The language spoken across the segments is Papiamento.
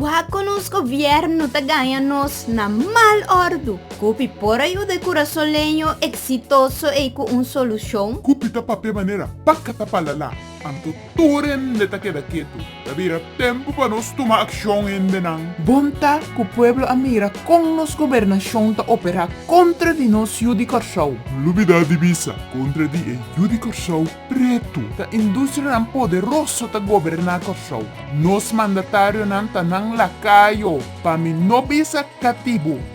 Wak-ko nos govièrnu ta gaña nos na mal òrdu! Cupi por a yuda e curasoleño exitoso ei cu un solucion? Cupi ta papia manera pa cata pa lala, anto? Tur hende ta keda ketu. Ta bira tempu pa nos tuma akshon, hendenan. Bon ta ku pueblo a mira kon nos gobernashon ta operá kontra di nos yu di Kòrsou. Lubidá di bisa kontra di e yu di Kòrsou pretu. Ta industrianan poderoso ta goberná Kòrsou. Nos mandatarionan ta nan lakayo pa mi no bisa katibu.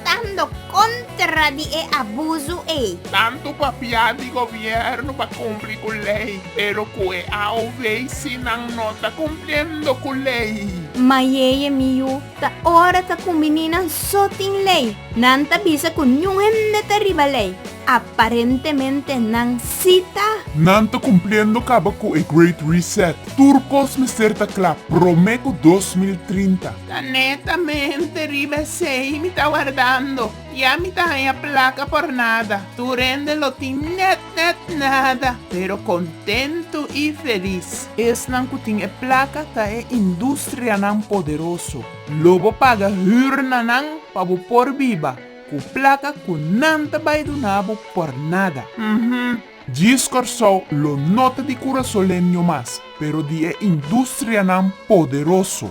Stando kontra di e abuso ei. Tantu papia di gobièrnu pa kumpli ku lei, pero ku e AOV si nan no ta kumpliendo ku lei. Mayeye mi yu, ta ora ta ku mi ninan so tin lei. Nan ta bisa ku niun hende ta riba lei. Aparentemente nan sí ta. Nan ta cumpliendo caba cu e Great Reset. Tur cos mester ta cla prome cu dos mil trinta. Ta netamente riba esey mi ta wardando. Ya mi ta haya placa por nada. Tur hende lo tin net net nada, pero contento y feliz. Esnan cu tin e placa ta e industrianan poderoso. Lo bo paga huur na nan pa bo por biba. Cu placa cu nan ta bay duna bo por nada. Uhmm. Djis Corsou lo no ta di curasoleño mas, pero di e industrianan poderoso.